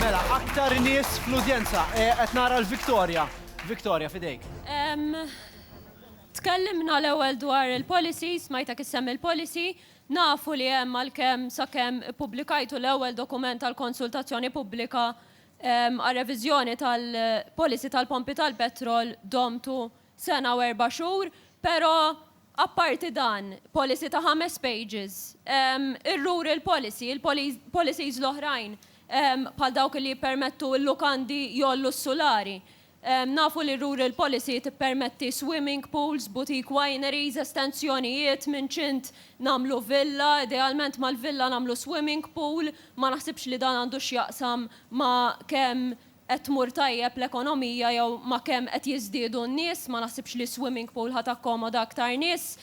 Mela, aktar nies fl-udjenza. Eh, qed nara l-Victoria. Victoria, fidejk. Tkellimna l-ewwel dwar il-policy, smajta kissem il-policy, nafu li hemm għalkemm sakemm ippubblikajtu l-ewwel dokument tal-konsultazzjoni pubblika għal reviżjoni tal-policy tal-pompi tal-petrol domtu sena u erba' xhur, pero apparti dan, policy ta' ħames pages, ir-rural policy, il-policies l-oħrajn bħal dawk li jippermettu l-lukandi jgħollu s-sulari, nafu li r-rural policy tippermetti swimming pools, boutique wineries, estensjonijiet, minn ċint nagħmlu villa, idealment mal-villa nagħmlu swimming pool, ma naħsibx li dan għandu x'jaqsam ma' kemm qed tmur tajjeb l-ekonomija jew ma' kemm qed jiżdiedu n-nies, ma naħsibx li swimming pool ħa takkomoda aktar nies.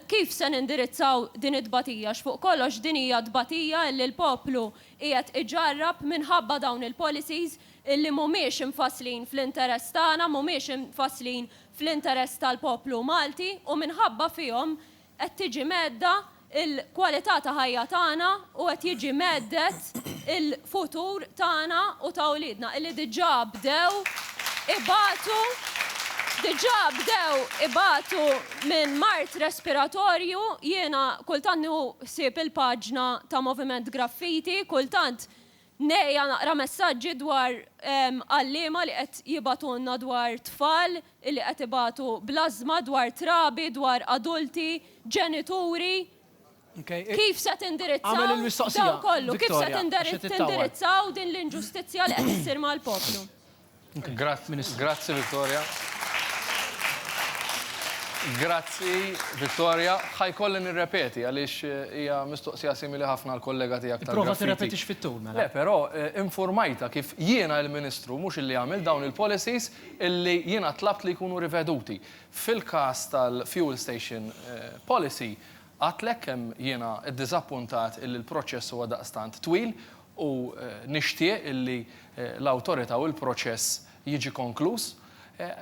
Kif se nindirizzaw din it-tbatija għax fuq kollox din hija tbatija illi l-poplu qiegħed iġarrab minħabba dawn il-policies illi mhumiex imfasslin fl-interess tagħna, mhumiex imfasslin fl-interess tal-poplu Malti u minħabba fihom qed tiġi mhedda l-kwalità ta' ħajja tagħna u qed jiġi mheddet il-futur tagħna u ta' uliedna illi diġà bdew ibatu diġà bdew ibatu minn mard respiratorju. Jiena kultant nieħu ħsieb il-paġna ta' Moviment Graffiti, kultant Ngħejja naqra messaġġi dwar għalliema li qed jibgħatulna dwar tfal li qed ibatu bl-ażżma, dwar trabi, dwar adulti, ġenituri. Kif se tindirizzaw dan kollu? Kif se tindirizzaw din l-inġustizzja li qed issir mal-poplu? Grazzi Victoria. Grazzi Victoria. Ħa jkolli nirrepeti għaliex hija mistoqsija simili ħafna għal kollega tiegħek tal Prova tirrepetix fit-tul mela. Le, però eh, informajta kif jiena il-Ministru mhux illi għamil dawn il-policies illi jiena tlabt li jkunu riveduti. Fil-każ tal-fuel station eh, policy, għadtlek kemm jiena ddiżappuntat illi l-proċess huwa daqstant twil u nixtieq li l-awtorità u l-proċess jiġi konkluż.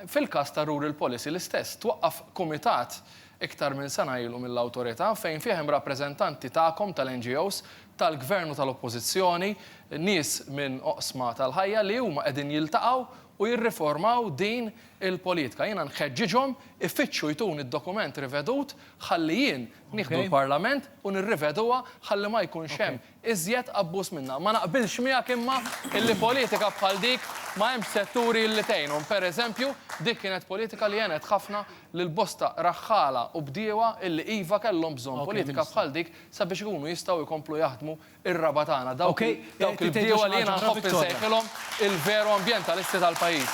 Fil-każ ta' Rural Policy l-istess, twaqqaf kumitat iktar minn sena ilu mill-awtorità fejn fih hemm rappreżentanti tagħkom tal-NGOs, tal-Gvern u tal-Oppożizzjoni, nies minn oqsma tal-ħajja li huma qegħdin jiltaqgħu u jirriformaw din il-politka. Jiena nħeġġiġhom ifittxu jtuni d-dokument rivedut ħalli jien nieħdu l-Parlament u nirriveduha ħalli ma jkunx hemm iżjed abbuż minnha. Ma naqbilx miegħek imma illi politika bħal dik ma hemmx setturi illi tgħinhom. Per eżempju, dik kienet politika li għenet ħafna lil bosta raħħala u bdiewa illi iva kellhom bżonn politika bħal dik sabiex ikunu jistgħu jkomplu jaħdmu r-raba' tagħna, dawk il-bdiewa li jiena nħobb insejħilhom il-veru ambjentalisti tal-pajjiż.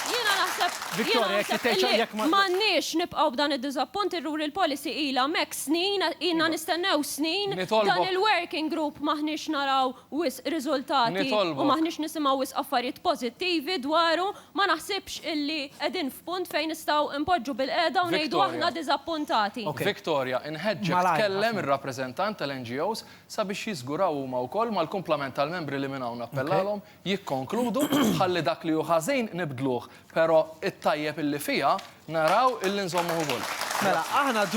Jiena naħseb, jiena naħseb illi m'għandniex nibqgħu b'dan id-diżappunt, irrur il-policy ilha hemmhekk, Snin, ilna nistennew snin dan il-working group m'aħniex naraw wisq riżultati u m'aħniex nisimgħu wisq affarijiet pożittivi dwaru, ma naħsibx illi qegħdin f'punt fejn nistgħu npoġġu bilqiegħda u ngħidu aħna diżappuntati. Victoria, inħeġġek tkellem ir-rappreżentant tal-NGOs sabiex jiżguraw huma wkoll mal-kumplament tal-membri li minn hawn nappellalhom jikkonkludu ħalli dak li hu ħażin nibdluh, però t-tajjeb illi fiha naraw illi nżommuh ukoll. Mela, aħna